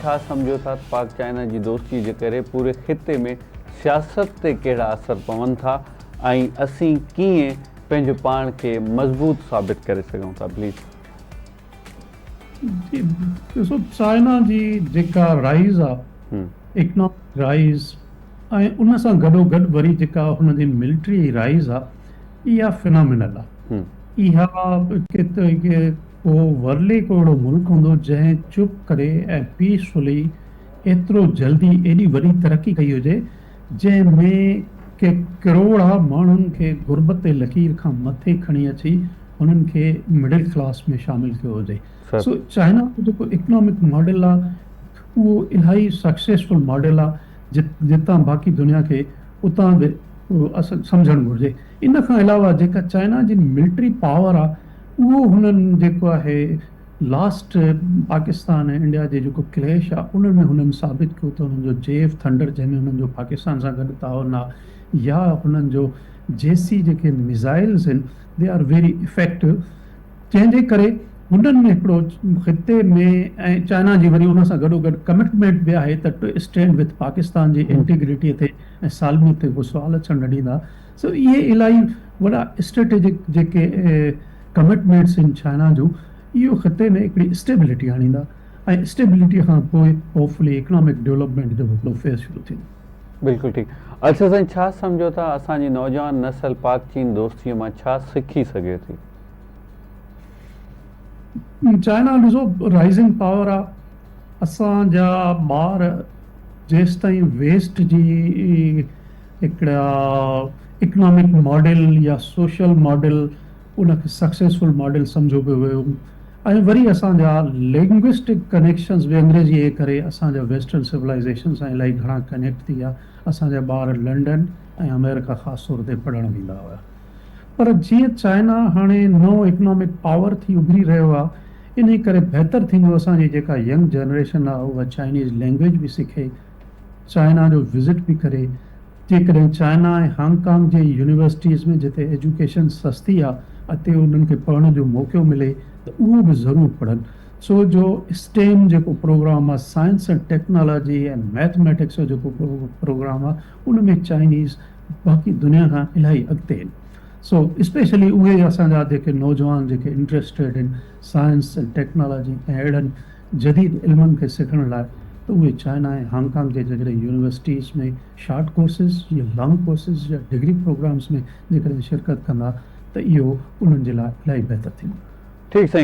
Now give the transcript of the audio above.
ڇا سمجهو ٿا ته پاڪ چائنا جي دوستي جي ڪري پوري خطي ۾ سياست تي ڪهڙا اثر پون ٿا ۽ اسين ڪيئن پنهنجو پاڻ کي مضبوط ثابت ڪري سگهون ٿا پليز. جي ڏسو چائنا جي جيڪا رائيز آ اڪنامڪ رائيز ۽ ان سان گڏو گڏ وري جيڪا هن جي ملٽري رائيز آ اها فنامنل آ اها اهو ورلي ڪو اهڙو ملڪ هوندو جنهن چپ ڪري ۽ پيس فلي ايترو جلدي ايڏي وڏي ترقي ڪئي هجي جنهن ۾ ڪي ڪروڙها ماڻهن کي غربت جي لڪير کان مٿي کڻي اچي هنن کي مڊل ڪلاس ۾ شامل ڪيو هجي سو چائنا جو جيڪو اڪنامڪ ماڊل آهي اهو الائي سڪسيسفل ماڊل آهي جتان باقي دنيا کي اتان به سمجهڻ گهرجي ان کان علاوه جيڪا چائنا جي ملٽري پاور آهي اهو هنن جيڪو آهي لاسٽ پاڪستان ۽ انڊيا جي جيڪو ڪليش آ ان ۾ هنن ثابت ڪيو ته هنن جو جيف ٿنڊر جنهن ۾ هنن جو پاڪستان سان گڏ تعاون آ يا هنن جو جيسي جيڪي ميزائلز هن دي آر ويري افيڪٽو جنهن جي ڪري هنن ۾ هڪڙو خطي ۾ ۽ چائنا جي وري ان سان گڏو گڏ ڪمٽمينٽ به آهي ته ٽو اسٽينڊ وٿ پاڪستان جي انٽيگريٽي تي ۽ سالميت تي هو سوال اچڻ نه ڏيندا. سو اهي الاهي وڏا اسٽريٽجڪ جيڪي ڪمٽمينٽس آهن چائنا جون اهو خطي ۾ هڪڙي اسٽيبلٽي آڻيندا ۽ اسٽيبلٽي کان پوء هوپ فلي اڪنامڪ ڊولپمينٽ جو هڪڙو فيز شروع ٿيندو. بلڪل ٺيڪ ارشد سائين ڇا سمجهو ٿا اسان جي نوجوان نسل پاڪ چين دوستي مان ڇا سکي سگهي ٿي؟ چائنا ڏسو رائزنگ پاور آ اسان جا ٻار جيستائين ويسٽ جي هڪڙا اڪنامڪ ماڊل يا سوشل ماڊل ان کي سڪسيسفل ماڊل سمجهيو پيو ويو ۽ وري اسان جا لينگوسٽڪ ڪنيڪشنز به انگريزيء جي ڪري اسان جا ويسٽرن سولائيزيشن سان الائي گهڻا ڪنيڪٽ ٿي ويا اسان جا ٻار لنڊن ۽ آمريڪا خاص طور تي پڙهڻ ويندا هيا پر جيئن چائنا هاڻي نئون اڪنامڪ پاور ٿي اڀري رهيو آهي انهي ڪري بهتر ٿيندو اسان جي جيڪا ينگ جنريشن آهي اها چائنيز لينگويج به سکي چائنا جو وزٽ به ڪري جيڪڏهن China ۽ Hong Kong universities ۾ جتي ايجوڪيشن سستي آ اتي انهن کي پڙهڻ جو موقعو ملي ته اهو به ضرور پڙهن ڇو جو اسٽيم جيڪو پروگرام آ سائنس ۽ ٽيڪنالاجي ۽ ميٿميٽڪس جو جيڪو پروگرام آ ان ۾ چائنيز باقي دنيا کان الاهي اڳتي آهن سو اسپيشلي اهي اسان جا جيڪي نوجوان جيڪي انٽرسٽيڊ آهن سائنس ۽ ٽيڪنالاجي ۽ اهڙن جديد علمن کي سکڻ لاء ته اهي چائنا ۽ هانگ ڪانگ جي جيڪڏهن يونيورسٽيز ۾ شارٽ ڪورسز يا لانگ ڪورسز يا ڊگري پروگرامز ۾ جيڪڏهن شرڪت ڪندا ته اهو انهن جي لاء الائي بهتر ٿيندو. ٺيڪ سائين